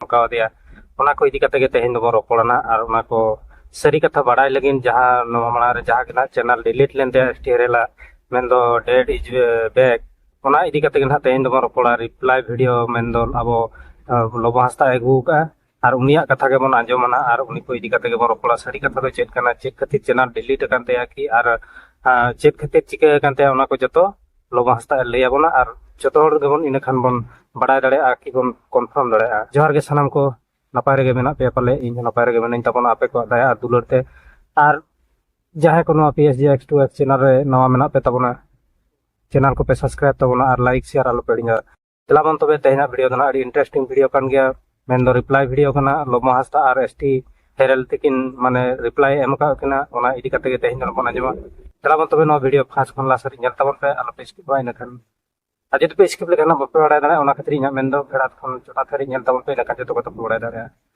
ᱠᱟᱣᱫᱮᱭᱟ ᱚᱱᱟ ᱠᱚ ᱤᱫᱤ ᱠᱟᱛᱮ ᱜᱮ ᱛᱮᱦᱮᱧ ᱫᱚᱵᱚᱱ ᱨᱚᱯᱚᱲᱟᱱᱟ ᱟᱨ ᱚᱱᱟ ᱠᱚ ᱥᱟᱹᱨᱤ ᱠᱟᱛᱷᱟ ᱵᱟᱲᱟᱭ ᱞᱟᱹᱜᱤᱫ ᱡᱟᱦᱟᱸ ᱱᱚᱣᱟ ᱢᱟᱲᱟᱝ ᱨᱮ ᱡᱟᱦᱟᱸ ᱜᱮ ᱱᱟᱦᱟᱜ ᱪᱮᱱᱮᱞ ᱰᱤᱞᱤᱴ ᱞᱮᱱ ᱛᱟᱭᱟ ᱴᱮᱨᱮᱞᱟ ᱢᱮᱱᱫᱚ ᱰᱮᱰ ᱤᱡ ᱵᱮᱠ ᱚᱱᱟ ᱤᱫᱤ ᱠᱟᱛᱮ ᱜᱮ ᱱᱟᱦᱟᱜ ᱛᱮᱦᱮᱧ ᱫᱚᱵᱚᱱ ᱨᱚᱯᱚᱲᱟ ᱨᱤᱯᱞᱟᱭ ᱵᱷᱤᱰᱤᱭᱳ ᱢᱮᱱᱫᱚ ᱟᱵᱚ ᱞᱚᱵᱚ ᱦᱟᱸᱥᱫᱟ ᱟᱹᱜᱩ ᱠᱟᱜᱼᱟ ᱟᱨ ᱩᱱᱤᱭᱟᱜ ᱠᱟᱛᱷᱟ ᱜᱮᱵᱚᱱ ᱟᱸᱡᱚᱢᱟᱱᱟ ᱟᱨ ᱩᱱᱤ ᱠᱚ ᱤᱫᱤ ᱠᱟᱛᱮ ᱜᱮᱵᱚᱱ ᱨᱚᱯᱚᱲᱟ ᱥᱟᱹᱨᱤ ᱠᱟᱛᱷᱟ ᱫᱚ ᱪᱮᱫ ᱠᱟᱱᱟ ᱪᱮᱫ ᱠᱷᱟᱹᱛᱤᱨ ᱪᱮᱱᱮᱞ ᱰᱤᱞᱤᱴ ᱟᱠᱟᱱ ᱛᱟᱭᱟ ᱠᱤ ᱟᱨ ᱪᱮᱫ ᱠᱷᱟᱹᱛᱤᱨ ᱪᱤᱠᱟᱹ ᱟᱠᱟᱱ ᱛᱟᱭᱟ ᱚᱱᱟ ᱠᱚ ᱡᱚᱛᱚ ᱞᱚᱵᱚ ᱦᱟᱸᱥᱫᱟ ᱮ ᱞᱟᱹᱭ ᱟᱵᱚᱱᱟ ᱟᱨ ᱡᱚᱛᱚ ᱦᱚᱲ ᱜᱮᱵᱚᱱ ᱤᱱᱟᱹ ᱠᱷᱟᱱ ᱵᱚᱱ ᱵᱟᱰᱟᱭ ᱫᱟᱲᱮᱭᱟᱜᱼᱟ ᱠᱤ ᱵᱚᱱ ᱠᱚᱱᱯᱷᱟᱨᱢ ᱫᱟᱲᱮᱭᱟᱜᱼᱟ ᱡᱚᱦᱟᱨ ᱜᱮ ᱥᱟᱱᱟᱢ ᱠᱚ ᱱᱟᱯᱟᱭ ᱨᱮᱜᱮ ᱢᱮᱱᱟᱜ ᱯᱮᱭᱟ ᱯᱟᱞᱮ ᱤᱧ ᱦᱚᱸ ᱱᱟᱯᱟᱭ ᱨᱮᱜᱮ ᱢᱮᱱᱟᱹᱧ ᱛᱟᱵᱚᱱᱟ ᱟᱯᱮ ᱠᱚᱣᱟᱜ ᱫᱟᱭᱟ ᱟᱨ ᱫᱩᱞᱟᱹᱲ ᱛᱮ ᱟᱨ ᱡᱟᱦᱟᱸᱭ ᱠᱚ ᱱᱚᱣᱟ P S G X two X channel ᱨᱮ ᱱᱟᱣᱟ ᱢᱮᱱᱟᱜ ᱯᱮ ᱛᱟᱵᱚᱱᱟ ᱪᱮᱱᱮᱞ ᱠᱚᱯᱮ ᱥᱟᱵᱥᱠᱨᱟᱭᱤᱵ ᱛᱟᱵᱚᱱᱟ ᱟᱨ ᱞᱟᱭᱤᱠ ᱥᱮᱭᱟᱨ ᱟᱞᱚᱯᱮ ᱦᱤᱲᱤᱧᱟ ᱪᱟᱞᱟᱜ ᱵᱚᱱ ᱛᱚᱵᱮ ᱛᱮᱦᱮᱧᱟᱜ ᱵᱷᱤᱰᱤᱭᱳ ᱫᱚ ᱱᱟᱜ ᱟᱹᱰᱤ ᱤᱱᱴᱟᱨᱮᱥᱴᱤᱝ ᱵᱷᱤᱰᱤᱭᱳ ᱠᱟᱱ ᱜᱮᱭᱟ ᱢᱮᱱ ᱫᱚ ᱨᱤᱯᱞᱟᱭ ᱵᱷᱤᱰᱤᱭᱳ ᱠᱟᱱᱟ ᱞᱚᱢᱚ ᱦᱟᱸᱥᱫᱟ ᱟᱨ ᱮᱥ ᱴᱤ ᱦᱮᱨᱮᱞ ᱛᱤᱠᱤᱱ ᱢᱟᱱᱮ ᱨᱤᱯᱞᱟᱭ ᱮᱢ ᱟᱠᱟᱫ ᱠᱤᱱᱟ ᱚᱱᱟ ᱤᱫᱤ ᱠᱟᱛᱮ ᱜᱮ ᱛᱮᱦᱮᱧ ᱫᱚ ᱵᱚᱱ ᱟᱸᱡᱚᱢᱟ ᱪᱟᱞᱟᱜ ᱵᱚᱱ ᱛᱚᱵᱮ ᱱᱚᱣᱟ ᱵᱷᱤᱰᱤᱭᱳ ᱯᱷᱟᱥᱴ ᱠᱷᱚᱱ ᱞᱟᱥᱴ ᱦᱟᱹᱨᱤᱡ ᱧᱮᱞ ᱛᱟᱵᱚᱱ ᱯᱮ ᱟᱞᱚᱯᱮ ᱥᱠᱤᱯᱟ ᱤᱱᱟᱹᱠᱷᱟᱱ ᱟᱨ ᱡᱩᱫᱤ ᱯᱮ ᱥᱠᱤᱯ ᱞᱮᱠᱷᱟᱱ ᱵᱟᱯᱮ ᱵᱟᱲᱟᱭ ᱫᱟᱲᱮᱭᱟᱜᱼᱟ ᱚᱱᱟ ᱠᱷᱟᱹᱛᱤᱨ ᱤᱧᱟᱹᱜ ᱢᱮᱱ ᱫᱚ ᱯᱷᱮᱲᱟᱛ ᱠᱷᱚᱱ ᱪᱚᱴᱟᱛ ᱦᱟᱹᱨᱤᱡ ᱧᱮᱞ ᱛᱟᱵᱚᱱ ᱯᱮ ᱤᱱᱟᱹᱠᱷᱟᱱ ᱡᱚᱛᱚ ᱠᱚᱛᱮ ᱯᱮ ᱵᱟᱲᱟᱭ ᱫᱟᱲᱮᱭᱟᱜᱼᱟ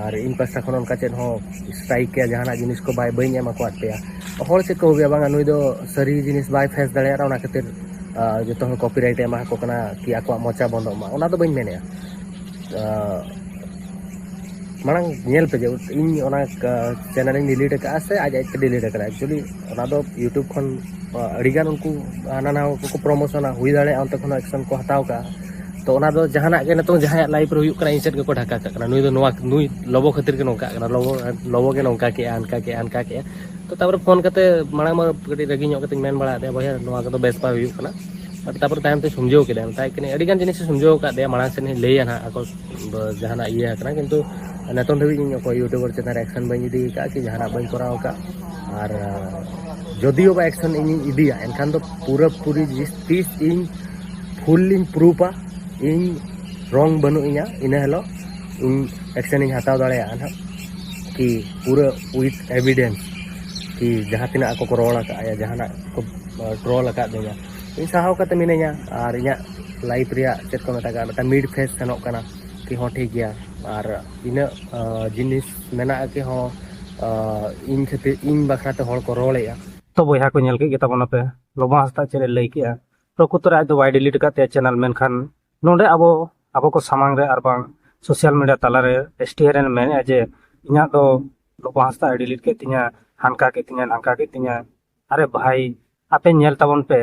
ᱟᱨ ᱤᱧ ᱯᱟᱥᱴᱟ ᱠᱷᱚᱱ ᱚᱱᱠᱟ ᱪᱮᱫ ᱦᱚᱸ ᱥᱴᱨᱟᱭᱤᱠ ᱠᱮᱭᱟ ᱡᱟᱦᱟᱱᱟᱜ ᱡᱤᱱᱤᱥ ᱠᱚ ᱵᱟᱭ ᱵᱟᱹᱧ ᱮᱢ ᱟᱠᱟᱫ ᱯᱮᱭᱟ ᱦᱚᱲ ᱪᱮᱫ ᱠᱚ ᱦᱩᱭᱩᱜᱼᱟ ᱵᱟᱝᱟ ᱱᱩᱭ ᱫᱚ ᱥᱟᱹᱨᱤ ᱡᱤᱱᱤᱥ ᱵᱟᱭ ᱯᱷᱮᱥ ᱫᱟᱲᱮᱭᱟᱜᱼᱟ ᱚᱱᱟ ᱠᱷᱟᱹᱛᱤᱨ ᱡᱚᱛᱚ ᱦᱚᱲ ᱠᱚᱯᱤᱨᱟᱭᱤᱴ ᱮᱢᱟ ᱠᱚ ᱠᱟᱱᱟ ᱠᱤ ᱟᱠᱚᱣᱟᱜ ᱢᱚᱪᱟ ᱵᱚᱱᱫᱚᱜ ᱢᱟ ᱚᱱᱟ ᱫᱚ ᱵᱟᱹᱧ ᱢᱮᱱᱮᱜᱼᱟ ᱢᱟᱲᱟᱝ ᱧᱮᱞ ᱯᱮ ᱡᱮ ᱤᱧ ᱚᱱᱟ ᱪᱮᱱᱮᱞ ᱤᱧ ᱰᱤᱞᱤᱴ ᱟᱠᱟᱫᱼᱟ ᱥᱮ ᱟᱡ ᱟᱡᱛᱮ ᱰᱤᱞᱤᱴ ᱟᱠᱟᱫᱟ ᱮᱠᱪᱩᱭᱮᱞᱤ ᱚᱱᱟ ᱫᱚ ᱤᱭᱩᱴᱩᱵᱽ ᱠᱷᱚᱱ ᱟᱹᱰᱤᱜᱟᱱ ᱩᱱᱠᱩ ᱦᱟᱱᱟ ᱱᱟᱣᱟ ᱠᱚᱠᱚ ᱯᱨᱚᱢᱳᱥᱚᱱᱟ ᱦᱩᱭ ᱫᱟᱲᱮᱭᱟᱜᱼᱟ ᱚᱱᱛᱮ ᱠᱷᱚᱱ ᱮᱠᱥᱮᱱ ᱠᱚ ᱦᱟᱛᱟᱣ ᱠᱟᱜᱼᱟ ᱛᱚ ᱚᱱᱟ ᱫᱚ ᱡᱟᱦᱟᱱᱟᱜ ᱜᱮ ᱱᱤᱛᱚᱝ ᱡᱟᱦᱟᱸᱭᱟᱜ ᱞᱟᱭᱤᱯᱷ ᱨᱮ ᱦᱩᱭᱩᱜ ᱠᱟᱱᱟ ᱤᱧ ᱥᱮᱫ ᱜᱮᱠᱚ ᱰᱷᱟᱠᱟ ᱠᱟᱜ ᱠᱟᱱᱟ ᱱᱩᱭ ᱫᱚ ᱱᱚᱣᱟ ᱱᱩᱭ ᱞᱚᱵᱚ ᱠᱷᱟᱹᱛᱤᱨ ᱜᱮ ᱱᱚᱝᱠᱟᱜ ᱠᱟᱱᱟ ᱞᱚᱵᱚ ᱞᱚᱵᱚ ᱜᱮ ᱱᱚᱝᱠᱟ ᱠᱮᱜᱼᱟ ᱦᱟᱱᱠᱟ ᱠᱮᱜᱼᱟ ᱦᱟᱱᱠᱟ ᱠᱮᱜᱼᱟ ᱛᱚ ᱛᱟᱯᱚᱨᱮ ᱯᱷᱳᱱ ᱠᱟᱛᱮ ᱢᱟᱲᱟᱝ ᱢᱟ ᱠᱟᱹᱴᱤᱡ ᱨᱟᱹᱜᱤ ᱧᱚᱜ ᱠᱟᱛᱮᱧ ᱢᱮᱱ ᱵᱟᱲᱟ ᱟᱫᱮᱭᱟ ᱵᱚᱭᱦᱟ ᱱᱚᱣᱟ ᱠᱚᱫᱚ ᱵᱮᱥ ᱵᱟᱭ ᱦᱩᱭᱩᱜ ᱠᱟᱱᱟ ᱵᱟᱴ ᱛᱟᱯᱚᱨᱮ ᱛᱟᱭᱚᱢ ᱛᱮ ᱥᱚᱢᱡᱷᱟᱹᱣ ᱠᱮᱫᱟ ᱢᱮᱛᱟᱭ ᱠᱟᱹᱱᱟᱹᱧ ᱟᱹᱰᱤ ᱜᱟᱱ ᱡᱤᱱᱤᱥ ᱥᱚᱢᱡᱷᱟᱹᱣ ᱟᱠᱟᱫ ᱫᱮᱭᱟ ᱢᱟᱲᱟᱝ ᱥᱮᱫ ᱤᱧ ᱞᱟᱹᱭᱟ ᱱᱟᱦᱟᱜ ᱟᱠᱚ ᱡᱟᱦᱟᱱᱟᱜ ᱤᱭᱟᱹ ᱟᱠᱟᱱᱟ ᱠᱤᱱᱛᱩ ᱱᱤᱛᱚᱝ ᱫᱷᱟᱹᱵᱤᱡ ᱤᱧ ᱚᱠᱚᱭ ᱤᱭᱩᱴᱩᱵᱟᱨ ᱪᱮᱛᱟᱱ ᱨᱮ ᱮᱠᱥᱮᱱ ᱵᱟᱹᱧ ᱤᱫᱤ ᱟᱠᱟᱫᱼᱟ ᱠᱤ ᱡᱟᱦᱟᱱᱟᱜ ᱵᱟᱹᱧ ᱠᱚᱨᱟᱣ ᱟᱠᱟᱫ ᱟᱨ ᱡᱚᱫᱤᱭᱳ ᱵᱟ ᱮᱠᱥᱮᱱ ᱤᱧᱤᱧ ᱤᱫᱤᱭᱟ ᱮᱱᱠᱷᱟᱱ ᱫᱚ ᱯᱩᱨᱟᱹ ᱯᱩᱨᱤ ᱛᱤᱥ ᱤᱧ ᱯᱷᱩᱞ ᱞᱤᱧ ᱯᱨᱩᱯᱟ ᱤᱧ ᱨᱚᱝ ᱵᱟᱹᱱᱩᱜ ᱤᱧᱟ ᱤᱱᱟᱹ ᱦᱤᱞᱳᱜ ᱤᱧ ᱮᱠᱥᱮᱱᱤᱧ ᱦᱟᱛᱟᱣ ᱫᱟᱲᱮᱭᱟᱜᱼᱟ ᱱᱟᱦᱟᱜ ᱠᱤ ᱯᱩᱨᱟᱹ ᱩᱭᱤᱛᱷ ᱮᱵᱷᱤᱰᱮᱱᱥ ᱠᱤ ᱡᱟᱦᱟᱸ ᱛᱤᱱᱟᱹᱜ ᱟᱠᱚ ᱠᱚ ᱨᱚᱲ ᱟᱠᱟᱫᱼᱟ ᱡᱟᱦᱟᱱᱟᱜ ᱠᱚ ᱴᱨᱚᱞ ᱟᱠᱟᱫ ᱫᱤᱧᱟ ᱤᱧ ᱥᱟᱦᱟᱣ ᱠᱟᱛᱮ ᱢᱤᱱᱟᱹᱧᱟ ᱟᱨ ᱤᱧᱟᱹᱜ ᱞᱟᱭᱤᱯᱷ ᱨᱮᱭᱟᱜ ᱪᱮᱫ ᱠᱚ ᱢᱮᱛᱟᱜᱼᱟ ᱢᱤᱫᱴᱟᱝ ᱢᱤᱰ ᱯᱷᱮᱥ ᱥᱮᱱᱚᱜ ᱠᱟᱱᱟ ᱠᱤ ᱦᱚᱸ ᱴᱷᱤᱠ ᱜᱮᱭᱟ ᱟᱨ ᱤᱱᱟᱹᱜ ᱡᱤᱱᱤᱥ ᱢᱮᱱᱟᱜᱼᱟ ᱠᱤ ᱦᱚᱸ ᱤᱧ ᱠᱷᱟᱹᱛᱤᱨ ᱤᱧ ᱵᱟᱠᱷᱨᱟᱛᱮ ᱦᱚᱲ ᱠᱚ ᱨᱚᱲᱮᱜᱼᱟ ᱛᱚ ᱵᱚᱭᱦᱟ ᱠᱚ ᱧᱮᱞ ᱠᱮᱫ ᱜᱮᱛᱟᱵᱚᱱᱟᱯᱮ ᱞᱚᱵᱚ ᱦᱟᱸᱥᱫᱟ ᱪᱮᱫ ᱮ ᱞᱟᱹᱭ ᱠᱮᱫᱼᱟ ᱯᱨᱚᱠᱩᱛᱚᱨᱮ ᱟᱡ ᱫᱚ ᱵᱟᱭ ᱰᱤᱞᱤᱴ ᱟᱠᱟᱫ ᱛᱟᱭᱟ ᱪᱮᱱᱮᱞ ᱢᱮᱱᱠᱷᱟᱱ ᱱᱚᱰᱮ ᱟᱵᱚ ᱟᱵᱚ ᱠᱚ ᱥᱟᱢᱟᱝ ᱨᱮ ᱟᱨ ᱵᱟᱝ ᱥᱳᱥᱟᱞ ᱢᱤᱰᱤᱭᱟ ᱛᱟᱞᱟᱨᱮ ᱮᱥ ᱴᱤ ᱦᱮᱨᱮᱱ ᱢᱮᱱᱮᱫᱼᱟ ᱡᱮ ᱤᱧᱟᱹᱜ ᱫᱚ ᱞᱚᱵᱚ ᱦᱟᱸᱥᱫᱟ ᱟᱭ ᱰᱤᱞᱤᱴ ᱠᱮᱫ ᱛᱤᱧᱟ ᱦᱟᱱᱠᱟ ᱠᱮᱫ ᱛᱤᱧᱟ ᱱᱟᱝᱠᱟ ᱠᱮᱫ ᱛᱤᱧᱟ ᱟᱨᱮ ᱵᱷᱟᱭ ᱟᱯᱮ ᱧᱮᱞ ᱛᱟᱵᱚᱱ ᱯᱮ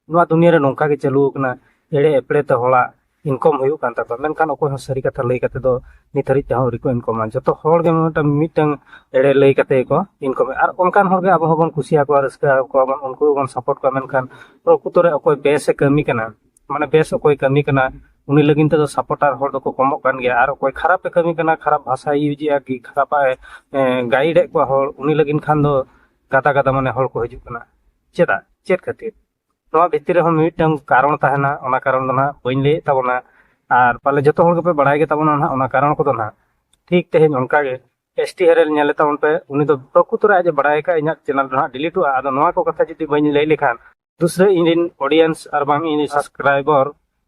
ᱱᱚᱣᱟ ᱫᱩᱱᱤᱭᱟᱹ ᱨᱮ ᱱᱚᱝᱠᱟ ᱜᱮ ᱪᱟᱹᱞᱩ ᱟᱠᱟᱱᱟ ᱮᱲᱮ ᱮᱯᱲᱮ ᱛᱮ ᱦᱚᱲᱟᱜ ᱤᱱᱠᱚᱢ ᱦᱩᱭᱩᱜ ᱠᱟᱱ ᱛᱟᱠᱚᱣᱟ ᱢᱮᱱᱠᱷᱟᱱ ᱚᱠᱚᱭ ᱦᱚᱸ ᱥᱟᱹᱨᱤ ᱠᱟᱛᱷᱟ ᱞᱟᱹᱭ ᱠᱟᱛᱮ ᱫᱚ ᱱᱤᱛ ᱦᱟᱹᱨᱤᱡ ᱛᱮᱦᱚᱸ ᱟᱹᱣᱨᱤ ᱠᱚ ᱤᱱᱠᱚᱢᱟ ᱡᱚᱛᱚ ᱦᱚᱲ ᱜᱮ ᱢᱤᱫᱴᱟᱝ ᱢᱤᱫᱴᱟᱝ ᱮᱲᱮ ᱞᱟᱹᱭ ᱠᱟᱛᱮ ᱜᱮᱠᱚ ᱤᱱᱠᱚᱢᱟ ᱟᱨ ᱚᱱᱠᱟᱱ ᱦᱚᱲ ᱜᱮ ᱟᱵᱚ ᱦᱚᱸᱵᱚᱱ ᱠᱩᱥᱤᱭᱟᱠᱚᱣᱟ ᱨᱟᱹᱥᱠᱟᱹ ᱟᱠᱚᱣᱟ ᱵᱚᱱ ᱩᱱᱠᱩ ᱜᱮᱵᱚᱱ ᱥᱟᱯᱳᱨᱴ ᱠᱚᱣᱟ ᱢᱮᱱᱠᱷᱟᱱ ᱯᱨᱚᱠᱩᱛᱚ ᱨᱮ ᱚᱠᱚᱭ ᱵᱮᱥᱮ ᱠᱟᱹᱢᱤ ᱠᱟᱱᱟ ᱢᱟᱱᱮ ᱵᱮᱥ ᱚᱠᱚᱭ ᱠᱟᱹᱢᱤ ᱠᱟᱱᱟ ᱩᱱᱤ ᱞᱟᱹᱜᱤᱫ ᱛᱮᱫᱚ ᱥᱟᱯᱚᱨᱴᱟᱨ ᱦᱚᱲ ᱫᱚᱠᱚ ᱠᱚᱢᱚᱜ ᱠᱟᱱ ᱜᱮᱭᱟ ᱟᱨ ᱚᱠᱚᱭ ᱠᱷᱟᱨᱟᱯᱮ ᱠᱟᱹᱢᱤ ᱠᱟᱱᱟ ᱠᱷᱟᱨᱟᱯ ᱵᱷᱟᱥᱟᱭ ᱤᱭᱩᱡᱮᱜᱼᱟ ᱠᱤ ᱠᱷᱟᱨᱟᱯᱟᱜ ᱮ ᱜᱟᱭᱤᱰᱮᱫ ᱠᱚᱣᱟ ᱦᱚᱲ ᱩᱱᱤ ᱞᱟᱹᱜᱤᱫ ᱠᱷᱟᱱ ᱫᱚ ᱜᱟᱫᱟ ᱜᱟᱫᱟ ᱢᱟᱱᱮ ᱦᱚᱲ ᱠᱚ ᱦᱤᱡᱩᱜ ᱠᱟᱱᱟ ᱪᱮᱫᱟᱜ ᱪᱮᱫ ᱠᱷᱟᱹᱛᱤᱨ ᱱᱚᱣᱟ ᱵᱷᱤᱛᱤᱨ ᱨᱮᱦᱚᱸ ᱢᱤᱫᱴᱟᱝ ᱠᱟᱨᱚᱱ ᱛᱟᱦᱮᱱᱟ ᱚᱱᱟ ᱠᱟᱨᱚᱱ ᱫᱚ ᱱᱟᱦᱟᱜ ᱵᱟᱹᱧ ᱞᱟᱹᱭᱮᱫ ᱛᱟᱵᱚᱱᱟ ᱟᱨ ᱯᱟᱞᱮ ᱡᱚᱛᱚ ᱦᱚᱲ ᱜᱮᱯᱮ ᱵᱟᱲᱟᱭ ᱜᱮ ᱛᱟᱵᱚᱱᱟ ᱱᱟᱦᱟᱜ ᱚᱱᱟ ᱠᱟᱨᱚᱱ ᱠᱚᱫᱚ ᱱᱟᱦᱟᱜ ᱴᱷᱤᱠ ᱛᱮᱦᱮᱧ ᱚᱱᱠᱟ ᱜᱮ ᱮᱥ ᱴᱤ ᱦᱮᱨᱮᱞ ᱧᱮᱞᱮ ᱛᱟᱵᱚᱱ ᱯᱮ ᱩᱱᱤ ᱫᱚ ᱯᱨᱚᱠᱩᱛᱚᱨ ᱟᱡ ᱮ ᱵᱟᱲᱟᱭ ᱟᱠᱟᱫ ᱤᱧᱟᱹᱜ ᱪᱮᱱᱮᱞ ᱫᱚ ᱱᱟᱦᱟᱜ ᱰᱤᱞᱤᱴᱚᱜᱼᱟ ᱟᱫᱚ ᱱᱚᱣᱟ ᱠᱚ ᱠᱟᱛᱷᱟ ᱡᱩᱫᱤ ᱵᱟᱹᱧ ᱞᱟᱹᱭ ᱞᱮᱠᱷᱟᱱ ᱫᱩᱥᱨᱟᱹ ᱤᱧ ᱨᱮᱱ ᱚᱰᱤᱭᱮᱱᱥ ᱟᱨ ᱵᱟᱝ ᱤᱧ ᱥᱟᱵᱥᱠᱨᱟᱭᱵᱚᱨ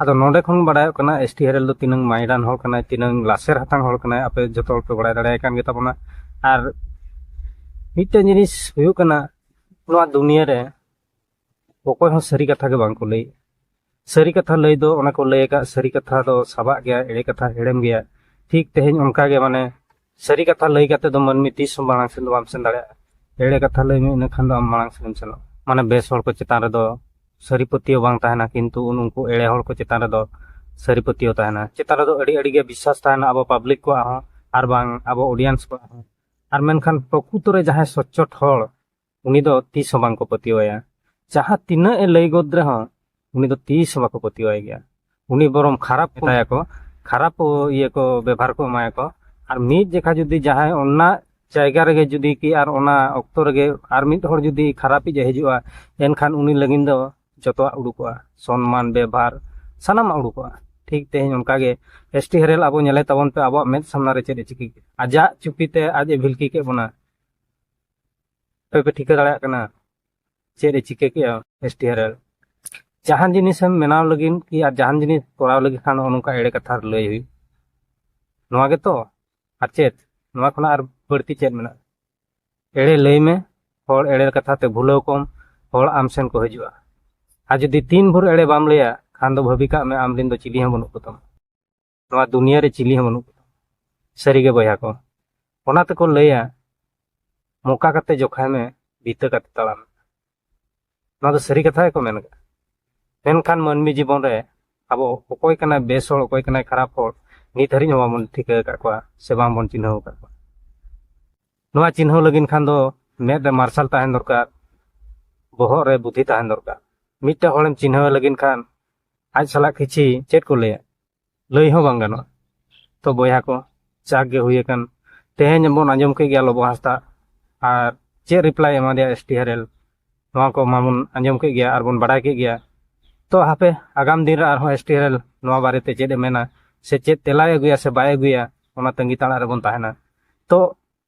ᱟᱫᱚ ᱱᱚᱰᱮ ᱠᱷᱚᱱ ᱵᱟᱰᱟᱭᱚᱜ ᱠᱟᱱᱟ ᱮᱥ ᱴᱤ ᱦᱮᱨᱮᱞ ᱫᱚ ᱛᱤᱱᱟᱹᱝ ᱢᱟᱭᱰᱟᱱ ᱦᱚᱲ ᱠᱟᱱᱟᱭ ᱛᱤᱱᱟᱹᱝ ᱞᱟᱥᱮᱨ ᱦᱟᱛᱟᱝ ᱦᱚᱲ ᱠᱟᱱᱟᱭ ᱟᱯᱮ ᱡᱚᱛᱚ ᱦᱚᱲ ᱯᱮ ᱵᱟᱲᱟᱭ ᱫᱟᱲᱮᱭᱟᱭ ᱠᱟᱱ ᱜᱮᱛᱟᱵᱚᱱᱟ ᱟᱨ ᱢᱤᱫᱴᱮᱱ ᱡᱤᱱᱤᱥ ᱦᱩᱭᱩᱜ ᱠᱟᱱᱟ ᱱᱚᱣᱟ ᱫᱩᱱᱤᱭᱟᱹ ᱨᱮ ᱚᱠᱚᱭ ᱦᱚᱸ ᱥᱟᱹᱨᱤ ᱠᱟᱛᱷᱟ ᱜᱮ ᱵᱟᱝᱠᱚ ᱞᱟᱹᱭ ᱥᱟᱹᱨᱤ ᱠᱟᱛᱷᱟ ᱞᱟᱹᱭ ᱫᱚ ᱚᱱᱟ ᱠᱚ ᱞᱟᱹᱭ ᱟᱠᱟᱫ ᱥᱟᱹᱨᱤ ᱠᱟᱛᱷᱟ ᱫᱚ ᱥᱟᱵᱟᱜ ᱜᱮᱭᱟ ᱮᱲᱮ ᱠᱟᱛᱷᱟ ᱦᱮᱲᱮᱢ ᱜᱮᱭᱟ ᱴᱷᱤᱠ ᱛᱮᱦᱮᱧ ᱚᱱᱠᱟᱜᱮ ᱢᱟᱱᱮ ᱥᱟᱹᱨᱤ ᱠᱟᱛᱷᱟ ᱞᱟᱹᱭ ᱠᱟᱛᱮ ᱫᱚ ᱢᱟᱹᱱᱢᱤ ᱛᱤᱥ ᱦᱚᱸ ᱢᱟᱲᱟᱝ ᱥᱮᱱ ᱫᱚ ᱵᱟᱢ ᱥᱮᱱ ᱫᱟᱲᱮᱭᱟᱜᱼᱟ ᱮᱲᱮ ᱠᱟᱛᱷᱟ ᱞᱟᱹᱭ ᱢᱮ ᱤᱱᱟᱹᱠᱷᱟᱱ ᱫᱚ ᱟᱢ ᱢᱟᱲᱟᱝ ᱥᱮᱱᱮᱢ ᱥᱮᱱᱚᱜᱼᱟ ᱢᱟᱱᱮ ᱵᱮᱥ ᱦᱚᱲ ᱠᱚ ᱪᱮᱛᱟᱱ ᱨᱮᱫᱚ ᱥᱟᱹᱨᱤ ᱯᱟᱹᱛᱭᱟᱹᱣ ᱵᱟᱝ ᱛᱟᱦᱮᱱᱟ ᱠᱤᱱᱛᱩ ᱩᱱᱠᱩ ᱮᱲᱮ ᱦᱚᱲ ᱠᱚ ᱪᱮᱛᱟᱱ ᱨᱮᱫᱚ ᱥᱟᱹᱨᱤ ᱯᱟᱹᱛᱭᱟᱹᱣ ᱛᱟᱦᱮᱱᱟ ᱪᱮᱛᱟᱱ ᱨᱮᱫᱚ ᱟᱹᱰᱤ ᱟᱹᱰᱤ ᱜᱮ ᱵᱤᱥᱥᱟᱥ ᱛᱟᱦᱮᱱᱟ ᱟᱵᱚ ᱯᱟᱵᱽᱞᱤᱠ ᱠᱚᱣᱟᱜ ᱦᱚᱸ ᱟᱨ ᱵᱟᱝ ᱟᱵᱚ ᱚᱰᱤᱭᱮᱱᱥ ᱠᱚᱣᱟᱜ ᱦᱚᱸ ᱟᱨ ᱢᱮᱱᱠᱷᱟᱱ ᱯᱨᱚᱠᱩᱛᱚ ᱨᱮ ᱡᱟᱦᱟᱸᱭ ᱥᱚᱪᱪᱚᱴ ᱦᱚᱲ ᱩᱱᱤ ᱫᱚ ᱛᱤᱥ ᱦᱚᱸ ᱵᱟᱝᱠᱚ ᱯᱟᱹᱛᱭᱟᱹᱣᱟᱭᱟ ᱡᱟᱦᱟᱸ ᱛᱤᱱᱟᱹᱜ ᱮ ᱞᱟᱹᱭ ᱜᱚᱫ ᱨᱮᱦᱚᱸ ᱩᱱᱤ ᱫᱚ ᱛᱤᱥ ᱦᱚᱸ ᱵᱟᱠᱚ ᱯᱟᱹᱛᱭᱟᱹᱣᱟᱭ ᱜᱮᱭᱟ ᱩᱱᱤ ᱵᱚᱨᱚᱢ ᱠᱷᱟᱨᱟᱯ ᱢᱮᱛᱟᱭᱟᱠᱚ ᱠᱷᱟᱨᱟᱯ ᱤᱭᱟᱹ ᱠᱚ ᱵᱮᱵᱷᱟᱨ ᱠᱚ ᱮᱢᱟᱭᱟᱠᱚ ᱟᱨ ᱢᱤᱫ ᱡᱮᱠᱷᱟ ᱡᱩᱫᱤ ᱡᱟᱦᱟᱸᱭ ᱚᱱᱟ ᱡᱟᱭᱜᱟ ᱨᱮᱜᱮ ᱡᱩᱫᱤ ᱠᱤ ᱟᱨ ᱚᱱᱟ ᱚᱠᱛᱚ ᱨᱮᱜᱮ ᱟᱨ ᱢᱤᱫ ᱦᱚᱲ ᱡᱩᱫᱤ ᱠᱷᱟᱨᱟᱯᱤᱡ ᱮ ᱦᱤᱡᱩᱜᱼᱟ ᱮᱱᱠᱷᱟᱱ ᱩᱱᱤ ᱞᱟᱹᱜᱤᱫ ᱫᱚ ᱡᱚᱛᱚᱣᱟᱜ ᱩᱰᱩᱠᱚᱜᱼᱟ ᱥᱚᱱᱢᱟᱱ ᱵᱮᱵᱷᱟᱨ ᱥᱟᱱᱟᱢᱟᱜ ᱩᱰᱩᱠᱚᱜᱼᱟ ᱴᱷᱤᱠ ᱛᱮᱦᱮᱧ ᱚᱱᱠᱟᱜᱮ ᱮᱥ ᱴᱤ ᱦᱮᱨᱮᱞ ᱟᱵᱚ ᱧᱮᱞᱮ ᱛᱟᱵᱚᱱ ᱯᱮ ᱟᱵᱚᱣᱟᱜ ᱢᱮᱫ ᱥᱟᱢᱱᱟ ᱨᱮ ᱪᱮᱫ ᱮ ᱪᱤᱠᱟᱹ ᱠᱮᱫ ᱟᱡᱟᱜ ᱪᱩᱯᱤᱛᱮ ᱟᱡ ᱮ ᱵᱷᱤᱞᱠᱤ ᱠᱮᱫ ᱵᱚᱱᱟ ᱟᱯᱮ ᱯᱮ ᱴᱷᱤᱠᱟᱹ ᱫᱟᱲᱮᱭᱟᱜ ᱠᱟᱱᱟ ᱪᱮᱫ ᱮ ᱪᱤᱠᱟᱹ ᱠᱮᱜᱼᱟ ᱮᱥ ᱴᱤ ᱟᱨ ᱮᱞ ᱡᱟᱦᱟᱱ ᱡᱤᱱᱤᱥᱮᱢ ᱵᱮᱱᱟᱣ ᱞᱟᱹᱜᱤᱫ ᱠᱤ ᱟᱨ ᱡᱟᱦᱟᱱ ᱡᱤᱱᱤᱥ ᱠᱚᱨᱟᱣ ᱞᱟᱹᱜᱤᱫ ᱠᱷᱟᱱ ᱱᱚᱜᱼᱚ ᱱᱚᱝᱠᱟ ᱮᱲᱮ ᱠᱟᱛᱷᱟ ᱞᱟᱹᱭ ᱦᱩᱭᱩᱜ ᱱᱚᱣᱟ ᱜᱮᱛᱚ ᱟᱨ ᱪᱮᱫ ᱱᱚᱣᱟ ᱠᱷᱚᱱᱟᱜ ᱟᱨ ᱵᱟᱹᱲᱛᱤ ᱪᱮᱫ ᱢᱮᱱᱟᱜᱼᱟ ᱮᱲᱮ ᱞᱟᱹᱭ ᱢᱮ ᱦᱚᱲ ᱮᱲᱮ ᱠᱟᱛᱷᱟ ᱛᱮ ᱵᱷᱩᱞᱟᱹᱣ ᱠᱚᱢ ᱦᱚᱲ ᱟᱢ ᱥᱮᱱ ᱠᱚ ᱦᱤᱡᱩᱜᱼᱟ ᱟᱨ ᱡᱩᱫᱤ ᱛᱤᱱ ᱵᱷᱳᱨ ᱮᱲᱮ ᱵᱟᱢ ᱞᱟᱹᱭᱟ ᱠᱷᱟᱱ ᱫᱚ ᱵᱷᱟᱹᱵᱤ ᱠᱟᱜ ᱢᱮ ᱟᱢ ᱨᱮᱱ ᱫᱚ ᱪᱤᱞᱤ ᱦᱚᱸ ᱵᱟᱹᱱᱩᱜ ᱠᱚᱛᱟᱢᱟ ᱱᱚᱣᱟ ᱫᱩᱱᱤᱭᱟᱹ ᱨᱮ ᱪᱤᱞᱤ ᱦᱚᱸ ᱵᱟᱹᱱᱩᱜ ᱠᱚᱣᱟ ᱥᱟᱹᱨᱤᱜᱮ ᱵᱚᱭᱦᱟ ᱠᱚ ᱚᱱᱟ ᱛᱮᱠᱚ ᱞᱟᱹᱭᱟ ᱢᱚᱠᱟ ᱠᱟᱛᱮ ᱡᱚᱠᱷᱟᱭ ᱢᱮ ᱵᱤᱛᱟᱹ ᱠᱟᱛᱮ ᱛᱟᱲᱟᱢ ᱱᱚᱣᱟ ᱫᱚ ᱥᱟᱹᱨᱤ ᱠᱟᱛᱷᱟ ᱜᱮᱠᱚ ᱢᱮᱱ ᱠᱟᱜᱼᱟ ᱢᱮᱱᱠᱷᱟᱱ ᱢᱟᱹᱱᱢᱤ ᱡᱤᱵᱚᱱ ᱨᱮ ᱟᱵᱚ ᱚᱠᱚᱭ ᱠᱟᱱᱟᱭ ᱵᱮᱥ ᱦᱚᱲ ᱚᱠᱚᱭ ᱠᱟᱱᱟᱭ ᱠᱷᱟᱨᱟᱯ ᱦᱚᱲ ᱱᱤᱛ ᱦᱟᱹᱨᱤᱡ ᱦᱚᱸ ᱵᱟᱵᱚᱱ ᱴᱷᱤᱠᱟᱹ ᱟᱠᱟᱫ ᱠᱚᱣᱟ ᱥᱮ ᱵᱟᱝᱵᱚᱱ ᱪᱤᱱᱦᱟᱹᱣ ᱟᱠᱟᱫ ᱠᱚᱣᱟ ᱱᱚᱣᱟ ᱪᱤᱱᱦᱟᱹᱣ ᱞᱟᱹᱜᱤᱫ ᱠᱷᱟᱱ ᱫᱚ ᱢᱮᱫ ᱨᱮ ᱢᱟᱨᱥᱟᱞ ᱛᱟᱦᱮᱱ ᱫᱚᱨᱠᱟᱨ ᱵᱚᱦᱚᱜ ᱨᱮ ᱵᱩᱫᱷᱤ ᱛᱟᱦᱮᱱ ᱫᱚᱨᱠᱟᱨ ᱢᱤᱫᱴᱮᱱ ᱦᱚᱲᱮᱢ ᱪᱤᱱᱦᱟᱹᱣ ᱞᱟᱹᱜᱤᱫ ᱠᱷᱟᱱ ᱟᱡ ᱥᱟᱞᱟᱜ ᱠᱤᱪᱷᱤ ᱪᱮᱫ ᱠᱚ ᱞᱟᱹᱭᱟ ᱞᱟᱹᱭ ᱦᱚᱸ ᱵᱟᱝ ᱜᱟᱱᱚᱜᱼᱟ ᱛᱚ ᱵᱚᱭᱦᱟ ᱠᱚ ᱪᱟᱠ ᱜᱮ ᱦᱩᱭ ᱟᱠᱟᱱ ᱛᱮᱦᱮᱧ ᱵᱚᱱ ᱟᱸᱡᱚᱢ ᱠᱮᱫ ᱜᱮᱭᱟ ᱞᱚᱵᱚ ᱦᱟᱸᱥᱫᱟ ᱟᱨ ᱪᱮᱫ ᱨᱤᱯᱞᱟᱭ ᱮᱢᱟᱫᱮᱭᱟ ᱮᱥ ᱴᱤ ᱦᱮᱨᱮᱞ ᱱᱚᱣᱟ ᱠᱚ ᱢᱟᱵᱚᱱ ᱟᱸᱡᱚᱢ ᱠᱮᱫ ᱜᱮᱭᱟ ᱟᱨ ᱵᱚᱱ ᱵᱟᱰᱟᱭ ᱠᱮᱫ ᱜᱮᱭᱟ ᱛᱚ ᱦᱟᱯᱮ ᱟᱜᱟᱢ ᱫᱤᱱ ᱨᱮ ᱟᱨᱦᱚᱸ ᱮᱥ ᱴᱤ ᱦᱮᱨᱮᱞ ᱱᱚᱣᱟ ᱵᱟᱨᱮᱛᱮ ᱪᱮᱫ ᱮ ᱢᱮᱱᱟ ᱥᱮ ᱪᱮᱫ ᱛᱮᱞᱟᱭ ᱟᱹᱜᱩᱭᱟ ᱥᱮ ᱵᱟᱭ ᱟᱹᱜᱩᱭᱟ ᱚᱱᱟ ᱛᱟᱺᱜᱤ ᱛᱟᱲᱟᱜ ᱨᱮᱵᱚᱱ ᱛᱟᱦᱮᱱᱟ ᱛᱚ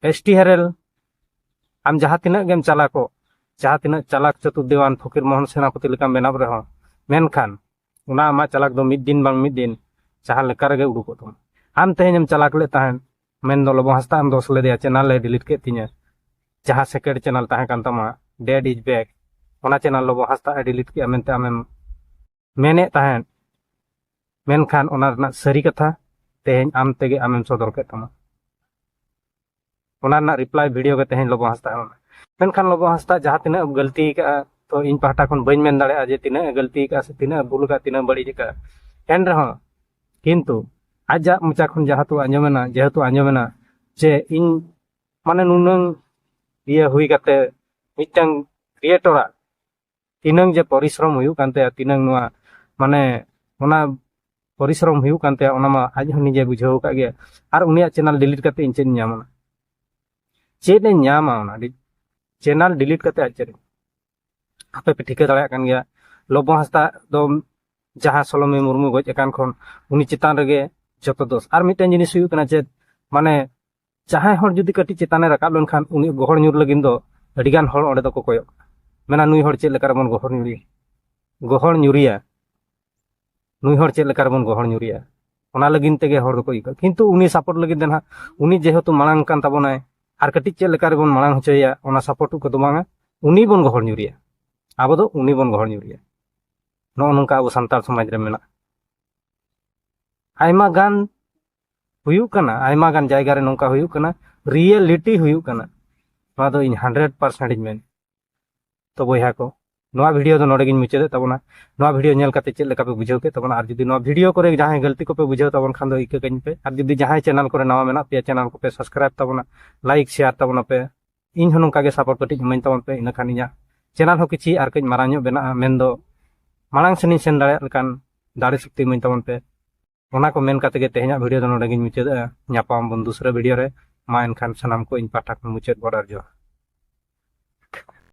ᱮᱥ ᱴᱤ ᱦᱮᱨᱮᱞ ᱟᱢ ᱡᱟᱦᱟᱸ ᱛᱤᱱᱟᱹᱜ ᱜᱮᱢ ᱪᱟᱞᱟᱠᱚᱜ ᱡᱟᱦᱟᱸ ᱛᱤᱱᱟᱹᱜ ᱪᱟᱞᱟᱠ ᱪᱟᱹᱛᱩᱨ ᱫᱮᱣᱟᱱ ᱯᱷᱚᱠᱤᱨ ᱢᱳᱦᱚᱱ ᱥᱮᱱᱟᱯᱚᱛᱤ ᱞᱮᱠᱟᱢ ᱵᱮᱱᱟᱣ ᱨᱮᱦᱚᱸ ᱢᱮᱱᱠᱷᱟᱱ ᱚᱱᱟ ᱟᱢᱟᱜ ᱪᱟᱞᱟᱠ ᱫᱚ ᱢᱤᱫ ᱫᱤᱱ ᱵᱟᱝ ᱢᱤᱫ ᱫᱤᱱ ᱡᱟᱦᱟᱸ ᱞᱮᱠᱟ ᱨᱮᱜᱮ ᱩᱰᱩᱠᱚᱜ ᱛᱟᱢᱟ ᱟᱢ ᱛᱮᱦᱮᱧ ᱮᱢ ᱪᱟᱞᱟᱠ ᱞᱮᱫ ᱛᱟᱦᱮᱸᱫ ᱢᱮᱱ ᱫᱚ ᱞᱚᱵᱚ ᱦᱟᱸᱥᱫᱟ ᱮᱢ ᱫᱚᱥ ᱞᱮᱫᱮᱭᱟ ᱪᱮᱱᱟᱞ ᱮ ᱰᱤᱞᱤᱴ ᱠᱮᱫ ᱛᱤᱧᱟᱹ ᱡᱟᱦᱟᱸ ᱥᱮᱠᱮᱱᱰ ᱪᱮᱱᱟᱞ ᱛᱟᱦᱮᱸ ᱠᱟᱱ ᱛᱟᱢᱟ ᱰᱮᱰ ᱤᱡ ᱵᱮᱠ ᱚᱱᱟ ᱪᱮᱱᱟᱞ ᱞᱚᱵᱚ ᱦᱟᱸᱥᱫᱟ ᱮ ᱰᱤᱞᱤᱴ ᱠᱮᱫᱼᱟ ᱢᱮᱱᱛᱮ ᱟᱢᱮᱢ ᱢᱮᱱᱮᱫ ᱛᱟᱦᱮᱸᱫ ᱢᱮᱱᱠᱷᱟᱱ ᱚᱱᱟ ᱨᱮᱱᱟᱜ ᱥᱟᱹᱨᱤ ᱠᱟᱛᱷᱟ ᱛᱮᱦᱮᱧ ᱟᱢ ᱛᱮᱜᱮ ᱟᱢᱮᱢ ᱥᱚᱫᱚᱨ ᱠᱮᱫ ᱛᱟᱢᱟ ᱚᱱᱟ ᱨᱮᱱᱟᱜ ᱨᱤᱯᱞᱟᱭ ᱵᱷᱤᱰᱤᱭᱳ ᱜᱮ ᱛᱮᱦᱮᱧ ᱞᱚᱵᱚ ᱦᱟᱸᱥᱫᱟ ᱮᱢ ᱢᱮᱱᱠᱷᱟᱱ ᱞᱚᱵᱚ ᱦᱟᱸᱥᱫᱟ ᱡᱟᱦᱟᱸ ᱛᱤᱱᱟᱹᱜ ᱮᱢ ᱜᱟᱹᱞᱛᱤ ᱠᱟᱜᱼᱟ ᱛᱚ ᱤᱧ ᱯᱟᱦᱴᱟ ᱠᱷᱚᱱ ᱵᱟᱹᱧ ᱢᱮᱱ ᱫᱟᱲᱮᱭᱟᱜᱼᱟ ᱡᱮ ᱛᱤᱱᱟᱹᱜ ᱮ ᱜᱟᱹᱞᱛᱤ ᱠᱟᱜᱼᱟ ᱥᱮ ᱛᱤᱱᱟᱹᱜ ᱮ ᱵᱷᱩᱞ ᱠᱟᱜᱼᱟ ᱛᱤᱱᱟᱹᱜ ᱵᱟᱹᱲᱤᱡ ᱠᱟᱜᱼᱟ ᱮᱱ ᱨᱮᱦᱚᱸ ᱠᱤᱱᱛᱩ ᱟᱡᱟᱜ ᱢᱚᱪᱟ ᱠᱷᱚᱱ ᱡᱟᱦᱟᱸ ᱛᱩ ᱟᱸᱡᱚᱢᱮᱱᱟ ᱡᱮᱦᱮᱛᱩ ᱟᱸᱡᱚᱢᱮᱱᱟ ᱡᱮ ᱤᱧ ᱢᱟᱱᱮ ᱱᱩᱱᱟᱹᱝ ᱤᱭᱟᱹ ᱦᱩᱭ ᱠᱟᱛᱮ ᱢᱤᱫᱴᱟᱝ ᱠᱨᱤᱭᱮᱴᱚᱨᱟᱜ ᱛᱤᱱᱟᱹᱝ ᱡᱮ ᱯᱚᱨᱤᱥᱨᱚᱢ ᱦᱩᱭᱩᱜ ᱠᱟᱱ ᱛᱟᱭᱟ ᱛᱤᱱᱟᱹᱝ ᱱᱚᱣᱟ ᱢᱟᱱᱮ ᱚᱱᱟ ᱯᱚᱨᱤᱥᱨᱚᱢ ᱦᱩᱭᱩᱜ ᱠᱟᱱ ᱛᱟᱭᱟ ᱚᱱᱟ ᱢᱟ ᱟᱡ ᱦᱚᱸ ᱱᱤᱡᱮ ᱵᱩᱡᱷᱟᱹᱣ ᱟᱠᱟᱫ ᱜᱮᱭᱟ ᱟᱨ ᱩᱱᱤᱭᱟᱜ ᱪᱮᱱᱮᱞ ᱰᱤᱞᱤᱴ ᱠᱟᱛᱮ ᱤᱧ ᱪᱮᱫ ᱤᱧ ᱧᱟᱢᱟ ᱪᱮᱫ ᱮ ᱧᱟᱢᱟ ᱚᱱᱟ ᱪᱮᱱᱮᱞ ᱰᱤᱞᱤᱴ ᱠᱟᱛᱮ ᱟᱡ ᱪᱮᱫ ᱟᱯᱮ ᱯᱮ ᱴᱷᱤᱠᱟᱹ ᱫᱟᱲᱮᱭᱟᱜ ᱠᱟᱱ ᱜᱮᱭᱟ ᱞᱚᱵᱚ ᱦᱟᱸᱥᱫᱟ ᱫᱚ ᱡᱟᱦᱟᱸ ᱥᱚᱞᱚᱢᱤ ᱢᱩᱨᱢᱩ ᱜᱚᱡ ᱟᱠᱟᱱ ᱠᱷᱚᱱ ᱩᱱᱤ ᱪᱮᱛᱟᱱ ᱨᱮᱜᱮ ᱡᱚᱛᱚ ᱫᱳᱥ ᱟᱨ ᱢᱤᱫᱴᱮᱱ ᱡᱤᱱᱤᱥ ᱦᱩᱭᱩᱜ ᱠᱟᱱᱟ ᱪᱮᱫ ᱢᱟᱱᱮ ᱡᱟᱦᱟᱸᱭ ᱦᱚᱲ ᱡᱩᱫᱤ ᱠᱟᱹᱴᱤᱡ ᱪᱮᱛᱟᱱᱮ ᱨᱟᱠᱟᱵ ᱞᱮᱱᱠᱷᱟᱱ ᱩᱱᱤ ᱜᱚᱦᱚᱲ ᱧᱩᱨ ᱞᱟᱹᱜᱤᱫ ᱫᱚ ᱟᱹᱰᱤᱜᱟᱱ ᱦᱚᱲ ᱚᱸᱰᱮ ᱫᱚᱠᱚ ᱠᱚᱭᱚᱜ ᱠᱟᱱᱟ ᱢᱮᱱᱟ ᱱᱩᱭ ᱦᱚᱲ ᱪᱮᱫ ᱞᱮᱠᱟ ᱨᱮᱵᱚᱱ ᱜᱚᱦᱚᱲ ᱧᱩᱨᱤᱭᱟ ᱜᱚᱦᱚᱲ ᱧᱩᱨᱤᱭᱟ ᱱᱩᱭ ᱦᱚᱲ ᱪᱮᱫ ᱞᱮᱠᱟ ᱨᱮᱵᱚᱱ ᱜᱚᱦᱚᱲ ᱧᱩᱨᱤᱭᱟ ᱚᱱᱟ ᱞᱟᱹᱜᱤᱫ ᱛᱮᱜᱮ ᱦᱚᱲ ᱫᱚᱠᱚ ᱤᱠᱟᱹ ᱠᱤᱱᱛᱩ ᱩᱱᱤ ᱥᱟᱯᱳᱨᱴ ᱞᱟᱹᱜᱤᱫ ᱫᱚ ᱱᱟᱦᱟᱜ ᱩᱱᱤ ᱡᱮᱦᱮᱛᱩ ᱢᱟᱲᱟᱝ ᱠᱟᱱ ᱛᱟᱵᱚᱱᱟᱭ ᱟᱨ ᱠᱟᱹᱴᱤᱡ ᱪᱮᱫ ᱞᱮᱠᱟ ᱨᱮᱵᱚᱱ ᱢᱟᱲᱟᱝ ᱦᱚᱪᱚᱭᱮᱭᱟ ᱚᱱᱟ ᱥᱟᱯᱳᱨᱴ ᱠᱚᱫᱚ ᱵᱟᱝᱟ ᱩᱱᱤ ᱵᱚᱱ ᱜᱚᱦᱚᱲ ᱧᱩᱨᱤᱭᱟ ᱟᱵᱚ ᱫᱚ ᱩᱱᱤ ᱵᱚᱱ ᱜᱚᱦᱚᱲ ᱧᱩᱨᱤᱭᱟ ᱱᱚᱜᱼᱚ ᱱᱚᱝᱠᱟ ᱟᱵᱚ ᱥᱟᱱᱛᱟᱲ ᱥᱚᱢᱟᱡᱽ ᱨᱮ ᱢᱮᱱᱟᱜᱼᱟ ᱟᱭᱢᱟ ᱜᱟᱱ ᱦᱩᱭᱩᱜ ᱠᱟᱱᱟ ᱟᱭᱢᱟ ᱜᱟᱱ ᱡᱟᱭᱜᱟ ᱨᱮ ᱱᱚᱝᱠᱟ ᱦᱩᱭᱩᱜ ᱠᱟᱱᱟ ᱨᱤᱭᱮᱞᱤᱴᱤ ᱦᱩᱭᱩᱜ ᱠᱟᱱᱟ ᱱᱚᱣᱟ ᱫᱚ ᱤᱧ ᱦᱟᱱᱰᱨᱮᱰ ᱯᱟᱨᱥᱮᱱᱴ ᱤᱧ ᱢᱮᱱ ᱛᱚ ᱵᱚᱭᱦᱟ ᱠᱚ ᱱᱚᱣᱟ ᱵᱷᱤᱰᱤᱭᱳ ᱫᱚ ᱱᱚᱰᱮ ᱜᱤᱧ ᱢᱩᱪᱟᱹᱫᱮᱫ ᱛᱟᱵᱚᱱᱟ ᱱᱚᱣᱟ ᱵᱷᱤᱰᱤᱭᱳ ᱧᱮᱞ ᱠᱟᱛᱮ ᱪᱮᱫ ᱞᱮᱠᱟ ᱯᱮ ᱵᱩᱡᱷᱟᱹᱣ ᱠᱮᱫ ᱛᱟᱵᱚᱱᱟ ᱟᱨ ᱡᱩᱫᱤ ᱱᱚᱣᱟ ᱵᱷᱤᱰᱤᱭᱳ ᱠᱚᱨᱮ ᱡᱟᱦᱟᱸᱭ ᱜᱟᱹᱞᱛᱤ ᱠᱚᱯᱮ ᱵᱩᱡᱷᱟᱹᱣ ᱛᱟᱵᱚᱱ ᱠᱷᱟᱱ ᱫᱚ ᱤᱠᱟᱹ ᱠᱟᱹᱧ ᱯᱮ ᱟᱨ ᱡᱩᱫᱤ ᱡᱟᱦᱟᱸᱭ ᱪᱮᱱᱮᱞ ᱠᱚᱨᱮ ᱱᱟᱣᱟ ᱢᱮᱱᱟᱜ ᱯᱮᱭᱟ ᱪᱮᱱᱮᱞ ᱠᱚᱯᱮ ᱥᱟᱵᱥᱠᱨᱟᱭᱤᱵ ᱛᱟᱵᱚᱱᱟ ᱞᱟᱭᱤᱠ ᱥᱮᱭᱟᱨ ᱛᱟᱵᱚᱱᱟ ᱯᱮ ᱤᱧ ᱦᱚᱸ ᱱᱚᱝᱠᱟ ᱜᱮ ᱥᱟᱯᱚᱨᱴ ᱠᱟᱹᱴᱤᱡ ᱤᱢᱟᱹᱧ ᱛᱟᱵᱚᱱ ᱯᱮ ᱤᱱᱟᱹᱠᱷᱟᱱ ᱤᱧᱟᱹᱜ ᱪᱮᱱᱮᱞ ᱦᱚᱸ ᱠᱤᱪᱷᱤ ᱟᱨ ᱠᱟᱹᱡ ᱢᱟᱨᱟᱝ ᱧᱚᱜ ᱵᱮᱱᱟᱜᱼᱟ ᱢᱮᱱᱫᱚ ᱢᱟᱲᱟᱝ ᱥᱮᱱᱤᱧ ᱥᱮᱱ ᱫᱟᱲᱮᱭᱟᱜ ᱞᱮᱠᱟᱱ ᱫᱟᱲᱮ ᱥᱚᱠᱛᱤ ᱤᱢᱟᱹᱧ ᱛᱟᱵᱚᱱ ᱯᱮ ᱚᱱᱟ ᱠᱚ ᱢᱮᱱ ᱠᱟᱛᱮ ᱜᱮ ᱛᱮᱦᱮᱧᱟᱜ ᱵᱷᱤᱰᱤᱭᱳ ᱫᱚ ᱱᱚᱰᱮ ᱜᱤᱧ ᱢᱩᱪᱟᱹᱫᱟ ᱧᱟᱯᱟᱢ ᱵᱚᱱ ᱫᱩᱥᱨᱟᱹ ᱵᱷᱤᱰᱤᱭᱳ ᱨᱮ ᱢᱟ ᱮᱱᱠᱷᱟᱱ ᱥᱟᱱᱟᱢ ᱠᱚ ᱤᱧ ᱯᱟᱦᱴᱟ ᱠᱷᱚᱱ ᱢᱩᱪᱟᱹᱫ ᱵᱚᱰᱟᱨ ᱡᱚᱦᱟᱨ